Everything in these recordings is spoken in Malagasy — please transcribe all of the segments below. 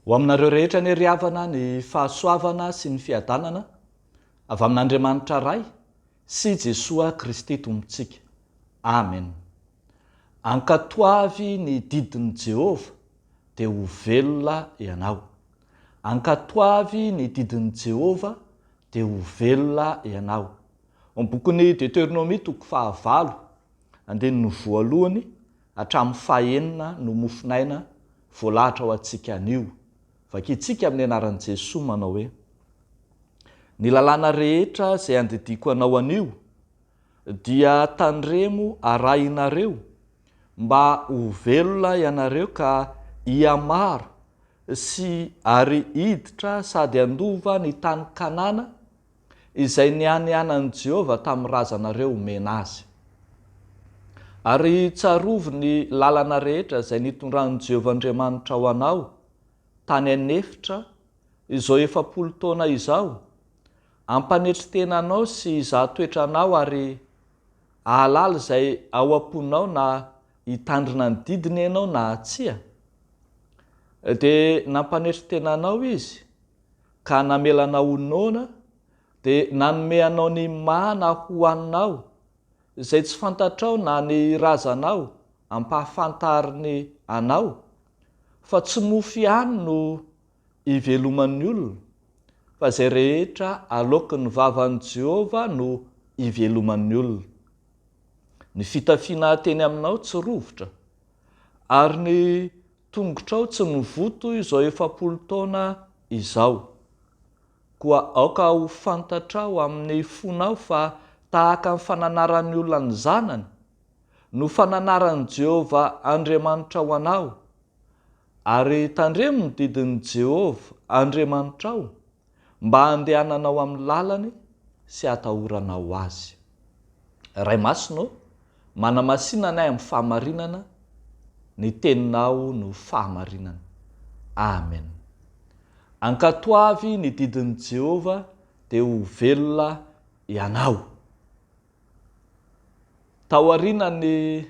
Ho aminareo rehetra anie ry havana ny fahasoavana sy ny fiadanana avy amin'Andriamanitra Ray sy Jesoa Kristy Tompontsika. Amen. Ankatoavy ny didin'i Jehovah dia ho velona ianao. Ankatoavy ny didin'i Jehovah, dia ho velona ianao. Ao amin'ny bokin'i Deteronomia toko fahavalo, andininy voalohany hatramin'ny fahenina no mofonaina voalahatra ho antsika anio. Vakintsika amin'ny anaran'i Jesoa manao hoe, Ny lalàna rehetra izay andidiako anao anio Dia tandremo arahinareo mba ho velona ianareo ka hihamaro sy ary hiditra sady handova ny tany Kanana izay nianianan'i Jehovah tamin'ny razanareo homena azy. Ary tsarovy ny lalana rehetra izay nitondran'i Jehovah Andriamanitrao anao tany an'efitra izao efapolo taona izao Ampanetry tena anao sy hizaha toetra anao ary ahalala izay ao am-ponao na hitandrina ny didiny ianao na tsia. Dia nampanetry tena anao Izy ka namela anao ho noana dia nanome anao ny mana hohaninao izay tsy fantatrao na ny razanao ampahafantariny anao fa tsy mofo ihany no iveloman'ny olona, fa izay rehetra aloakin'ny vavan'i Jehovah no iveloman'ny olona. Ny fitafiana ateny aminao tsy rovitra, ary ny tongotrao tsy mivoto izao efapolo taona izao. Koa aoka ho fantatrao amin'ny fonao fa tahaka ny fananaran'ny olona ny zanany, no fananaran'i Jehovah Andriamanitrao anao, Ary tandremo ny didin'i Jehovah Andriamanitrao, mba handehananao amin'ny lalany sy hatahoranao azy. Ray Masina ô, manamasina anay amin'ny fahamarinana, ny Teninao no fahamarinana. Amen. Ankatoavy ny didin'i Jehovah, dia ho velona ianao. Taorian'ny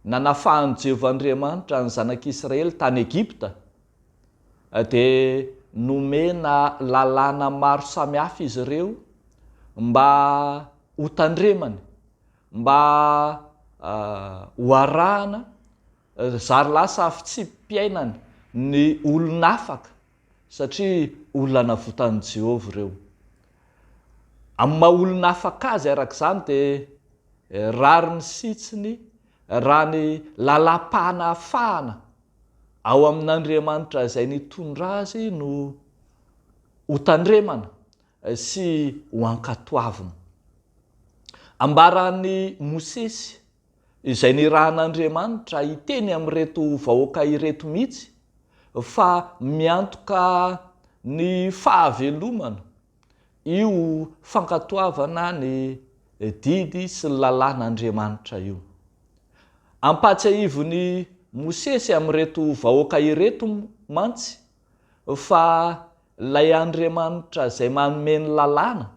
nanafahan'i Jehovah Andriamanitra ny zanak'Israely tany Egypta, dia nomena lalàna maro samihafa izy ireo mba hotandremany, mba hoarahana, zary lasa fitsipi-piainany ny olon'afaka satria olona navotan'i Jehovah ireo. Amin'ny maha-olona afaka azy araka izany, dia rariny sitsiny raha ny lalam-panafahana ao amin'Andriamanitra izay nitondra azy no hotandremana sy hoankatoavina. Ambaran'i Mosesy, izay nirahan'Andriamanitra hiteny amin'ireto vahoaka ireto mihitsy fa miantoka ny fahavelomana io fankatoavana ny didy sy ny lalàn'Andriamanitra io. Ampahatsiahivin'i Mosesy amin'ireto vahoaka ireto mantsy fa ilay Andriamanitra izay manome ny lalàna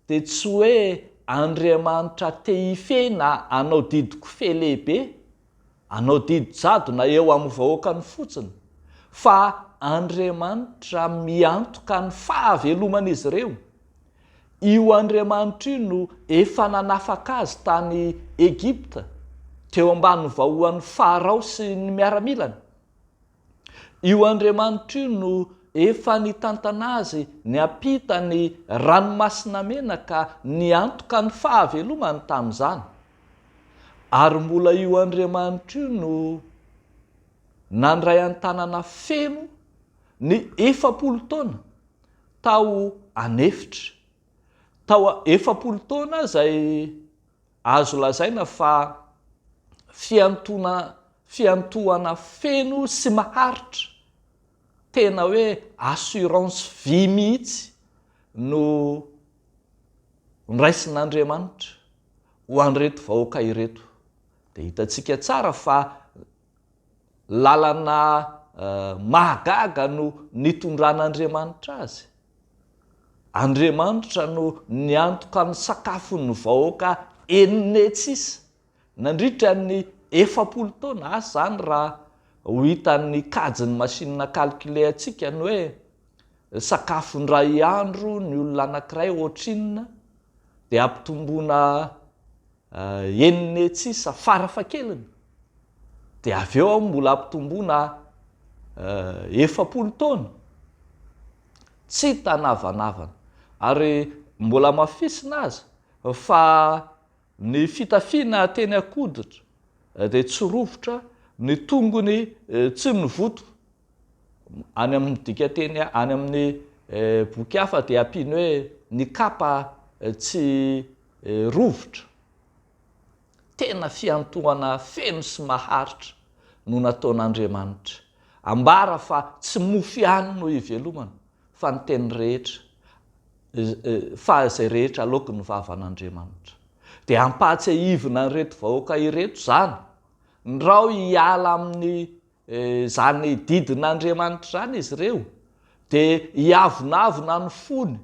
Dia tsy hoe Andriamanitra te hifehy na hanao didin-kofehy lehibe, hanao didy jadona eo amin'ny vahoakany fotsiny, fa Andriamanitra miantoka ny fahaveloman'izy ireo. Io Andriamanitra io no efa nanafaka azy tany Egypta, teo ambany vahoan'i Farao sy ny miaramilany. Io Andriamanitra io no efa nitantana azy niampita ny Ranomasina Mena ka niantoka ny fahavelomany tamin'izany. Ary mbola io Andriamanitra io no nandray an-tanana feno ny efapolo taona tao an'efitra, tao efapolo taona izay, Azo lazaina fa fiantoana fiantohana feno sy maharitra, tena hoe assurance vie mihitsy no noraisin'Andriamanitra ho an'ireto vahoaka ireto. Dia hitantsika tsara fa lalana mahagaga no nitondran'Andriamanitra azy. Andriamanitra no niantoka ny sakafon'ny vahoaka Ennetis nandritra ny efapolo taona, asa izany raha ho hitan'ny kajin'ny masinina calcule antsika ny hoe sakafo indray andro ny olona anankiray ohatrinona dia ampitomboina Enina etsy sisa fara fakeliny dia avy eo aho mbola ampitomboina efapolo taona. Tsy hita navanavana ary mbola amafisina aza fa ny fitafiana teny an-koditra dia tsy rovitra, ny tongony tsy novoto, any amin'ny dikanteny any amin'ny boky hafa dia ampiany hoe ny kapa tsy rovitra, tena fiantohana feno sy maharitra no nataon'Andriamanitra. Ambara fa tsy mofo ihany no hivelomana, fa ny teny rehetra, fa izay rehetra aloaky ny vavan'Andriamanitra. Dia ampahatsiahivina an'ireto vahoaka ireto izany, ndrao hiala amin'ny Izany didin'Andriamanitra izany izy ireo dia hiavonavona ny fony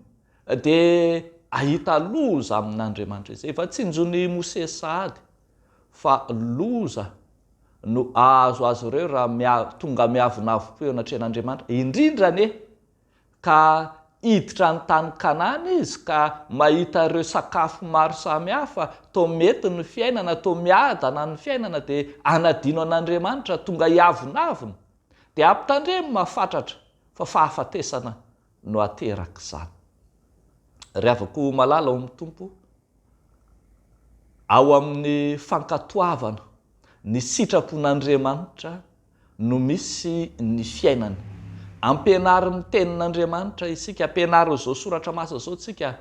dia hahita loza amin'Andriamanitra izay efa tsinjon'i Mosesy sahady fa loza no hahazo azy ireo raha tonga miavonavom-po eo anatrehan'Andriamanitra indrindra anie ka hiditra ny tany Kanana izy ka mahita ireo sakafo maro samy hafa, toa mety ny fiainana, toa miadana ny fiainana, dia hanadino an'Andriamanitra, tonga hiavonavona, dia ampitandremo mafatratra fa fahafatesana no aterak'izany. Ry havako malala ao amin'ny Tompo, ao amin'ny fankatoavana ny sitrapon'Andriamanitra no misy ny fiainana. Ampianaro ny Tenin'Andriamanitra isika, ampianaro izao soratra masina izao isika,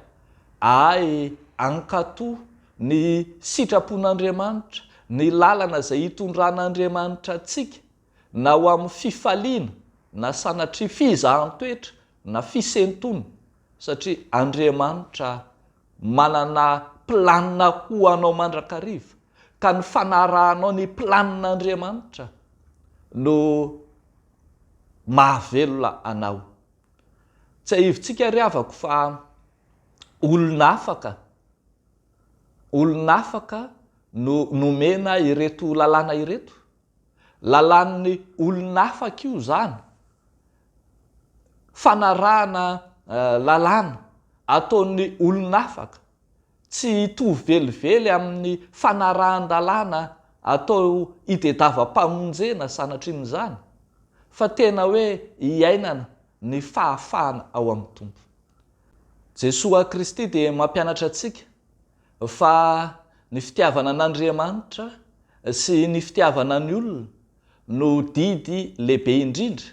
ahay hankato ny sitrapon'Andriamanitra, ny lalana izay hitondran'Andriamanitra antsika, na ho amin'ny fifaliana, na sanatria fizahan-toetra, na fisentoana, satria Andriamanitra Manana planina ho anao mandrakariva, ka ny fanarahanao ny planin'Andriamanitra no mahavelona anao. Tsiahivitsika ry havako fa olona afaka, olona afaka no nomena ireto lalàna ireto. Lalan'ny olon'afaka io zany. Fanarahana lalàna ataon'ny olon'afaka tsy hitovy velively amin'ny fanarahan-dalàna atao itedava-pamonjena sanatrin'izany fa tena hoe iainana ny fahafahana ao amin'ny Tompo. Jesoa Kristy dia mampianatra antsika Fa ny fitiavana an'Andriamanitra sy ny fitiavana ny olona no didy lehibe indrindra,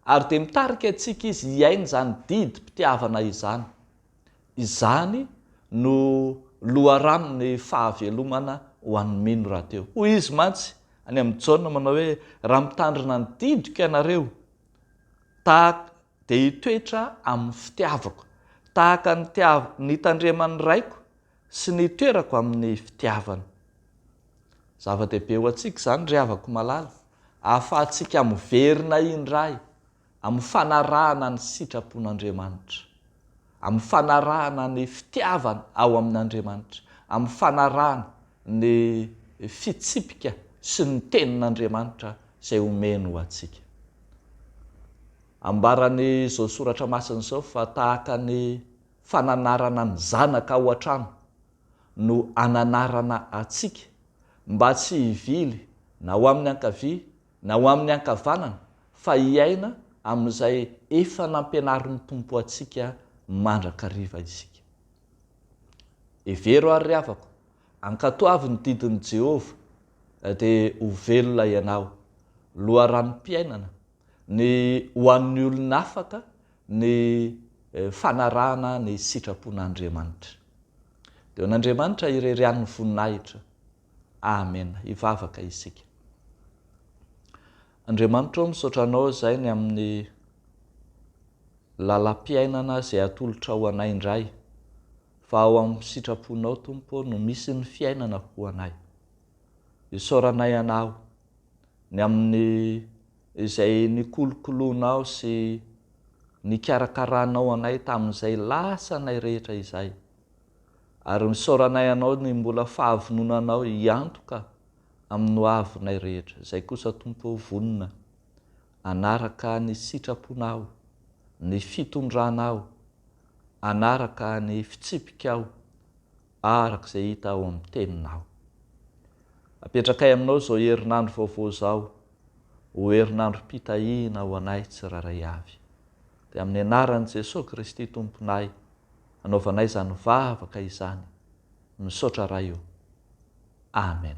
ary dia mitarika antsika izy hiaina izany didim-pitiavana izany. Izany no loharanon'ny fahavelomana ho an'ny mino rahateo. Hoy izy mantsy any amin'i Jaona manao hoe, Raha mitandrina ny didiko ianareo, tahaka. dia hitoetra amin'ny fitiavako, tahaka ny tiav nitandreman'ny Raiko sy nitoerako amin'ny fitiavany. Zava-dehibe ho antsika izany, ry havako malala, ahafahantsika miverina indray amin'ny fanarahana ny sitrapon'Andriamanitra, amin'ny fanarahana ny fitiavana ao amin'Andriamanitra, amin'ny fanarahana ny fitsipika sy ny tenin'Andriamanitra izay omeny ho antsika. Ambaran'izao soratra masina izao fa tahaka ny fananarana ny zanaka ao an-trano no ananarana antsika mba tsy hivily na ho amin'ny ankavia na ho amin'ny ankavanana fa hiaina amin'izay efa nampianarin'ny Tompo antsika mandrakariva isika. Hevero ary ry havako, ankatoavy ny didin'i Jehovah dia ho velona ianao. Loharanom-piainana Ny ho an'ny olon'afaka ny fanarahana ny sitrapon'Andriamanitra. Dia ho an'Andriamanitra irery ihany ny voninahitra. Amena. Hivavaka isika. Andriamanitra ô, misaotra Anao izay ny amin'ny lalam-piainana izay atolotrao anay indray, fa ao amin'ny sitraponao Tompo ô no misy ny fiainana ho anay. Isaoranay Anao. Ny amin'ny izay nikolokoloanao sy nikarakaranao anay tamin'izay lasanay rehetra izay. Ary nisaoranay Anao ny mbola fahavononanao hiantoka amin'ny ho avinay rehetra. Izay kosa, Tompo ô, vonona hanaraka ny sitraponao, ny fitondranao, hanaraka ny fitsipikao, araka izay hita ao amin'ny Teninao. Apetrakay aminao izao herinandro vaovao izao ho herinandrom-pitahiana ho anay tsirairay avy. Dia amin'ny anaran'i Jesoa Kristy Tomponay anaovanay izany vavaka izany. Misaotra Ray o. Amen.